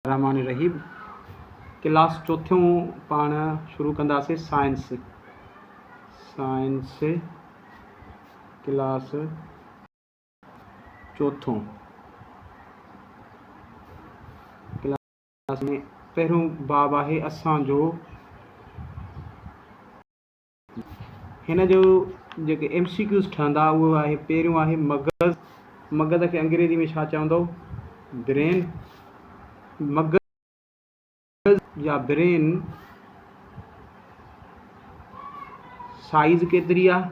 رحمان رحيم ڪلاس چوٿيون پاڻ شروع ڪنداسين سائنس سائنس ڪلاس چوٿون ڪلاس ۾ پهريون باب آهي اسان جو هن جو جيڪي ايم سي ڪيوز ٺهندا اهو آهي پهريون آهي مغز مغز کي انگريزي ۾ ڇا چوندو برين مغز يا برين سائيز ڪيتري آهي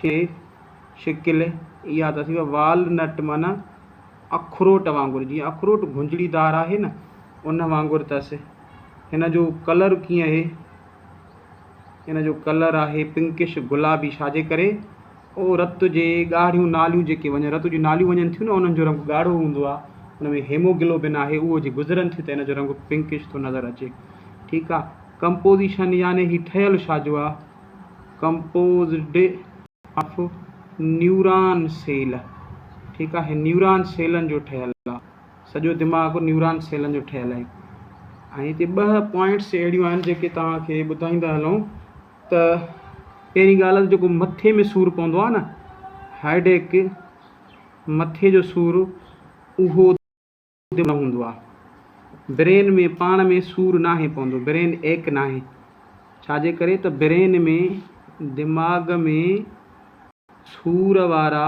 شي، شڪل، اها ته ٿي وال نٽ معنيٰ اخروٽ وانگر، جيئن اخروٽ گهنجڙي دار آهي نه ان وانگر اٿس. هن جو ڪلر ڪيئن اهي؟ هن جو ڪلر آهي پنڪش گلابي ڇاجي ڪري او رت جي ڳاڙهيون ناليون جيڪي وڃن رت جون ناليون وڃن ٿيون نه انهن جو رنگ ڳاڙهو هوندو آهي ان ۾ هيموگلوبن آهي اهو جي گذرن ٿيون ته ان جو رنگ پنڪش ٿو نظر اچي ٺيڪ آهي ڪمپوزيشن يعني هي ٺهيل ڇاجو آهي ڪمپوزڊ آف نيوران سيل ٺيڪ آهي نيوران سيلن جو ٺهيل آهي سڄو دماغ نيوران سيلن جو ٺهيل آهي ۽ هتي ٻه پوائنٽس اهڙيون آهن جيڪي توهان کي ٻڌائيندا هلون ته پهرين ڳالهه جيڪو مٿي ۾ سور پوندو آهي نه هائيڊيڪ مٿي جو سور اهو سود نه هوندو آ. برين ۾ پاڻ ۾ سور ناهي پوندو، برين ايڪ ناهي، ڇاجي ڪري ته برين ۾ دماغ ۾ سور وارا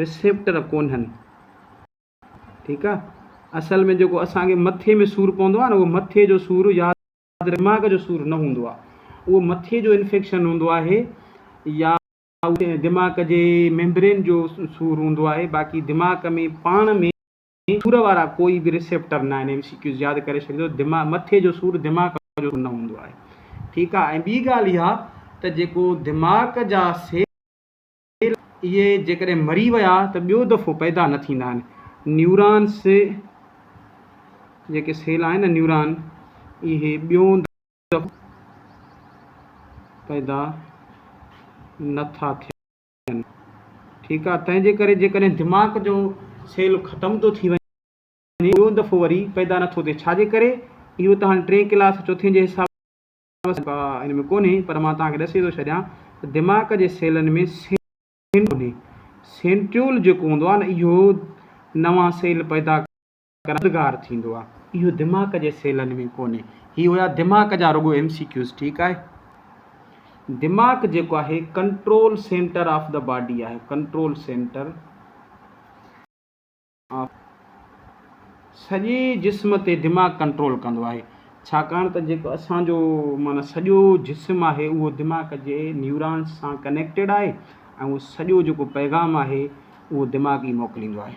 رسيپٽر ڪونهن، ٺيڪ آ، اصل ۾ جيڪو اسان کي مٿي ۾ سور پوندو آ نه اهو مٿي جو سور ياد رکجي دماغ جو سور نه هوندو آ، اهو مٿي جو انفيڪشن هوندو آهي يا اهو دماغ جي ميمبرين جو سور هوندو آهي باقي دماغ ۾ پاڻ ۾ سور وارا ڪوئي به ريسيپٽر نه آهن ايم سي ڪيوز ياد ڪري ڇڏيندو دماغ مٿي جو سور دماغ جو سور نه هوندو آهي ٺيڪ آهي ۽ ٻي ڳالهه اها ته جيڪو دماغ جا سيل اهي جيڪڏهن مري ويا ته ٻيو دفعو پيدا نه ٿيندا آهن نيورانس جيڪي سيل آهن نيوران اهي ٻيون موجب پيدا نه ٿا ٿين. ٺيڪ آهي، تنهن جي ڪري جيڪڏهن دماغ جو سيل ختم ٿو ٿي وڃي ٻيو دفعو وري پيدا نه ٿو ٿئي ڇا جي ڪري؟ اهو ته هاڻي ٽئين ڪلاس چوٿين جي حساب سان ان ۾ ڪونهي پر مان توهان کي ڏسي ٿو ڇڏيان ته دماغ جي سيلن ۾ سينٽريول ڪونهي سينٽريول جيڪو هوندو آهي نه اهو نوان سيل پيدا ڪردگار ٿيندو آ اهو دماغ جي سيلن ۾ ڪونهي هي هيا دماغ جا رڳو ايم سي ڪيوز ٺيڪ آهي دماغ جيڪو آهي control centre of the body آهي ڪنٽرول سينٽر آف سڄي جسم تي دماغ ڪنٽرول ڪندو آهي ڇاڪاڻ ته جيڪو اسان جو معنی سڄو جسم آهي اهو دماغ جي نيورانس سان ڪنيڪٽيڊ آهي ۽ اهو سڄو جيڪو پيغام آهي اهو دماغ ئي موڪليندو آهي.